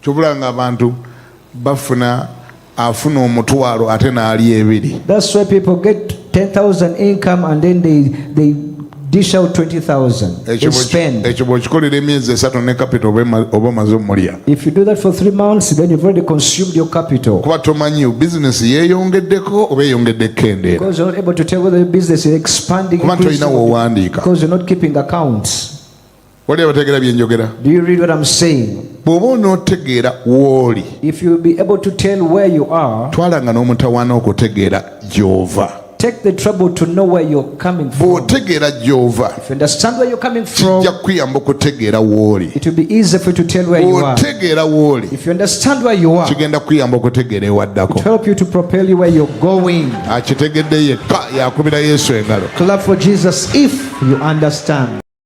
kyobula nga abantu bafuna afuna omutwalo ate naali ebiri that's why people get 10000 income and then they, they dish out 20000 ekyo bwokikolera emyezi esatu ne capital oba omaze omulya if you do that for three months then you've already consumed your capital kuba tomanyi business yeeyongeddeko oba eyongedde kendeera because you're not able to tell whether your business is expanding kuba tolina wowandiika because you're not keeping accounts wali abategeera bye njogera bw'oba onootegeera w'oli twalanga n'omutawaana okutegeera gy'ova Take the trouble to know where you're coming from. bw'otegeera gy'ova If you understand where you're coming from, kijja kukuyamba okutegeera w'oli it will be easy for you to tell where you are. bw'otegeera w'oli If you understand where you are, kigenda kukuyamba okutegeera it ewaddako help you to propel you where you're going. akitegedde yekka yakubira yesu engalo Clap for Jesus if you understand.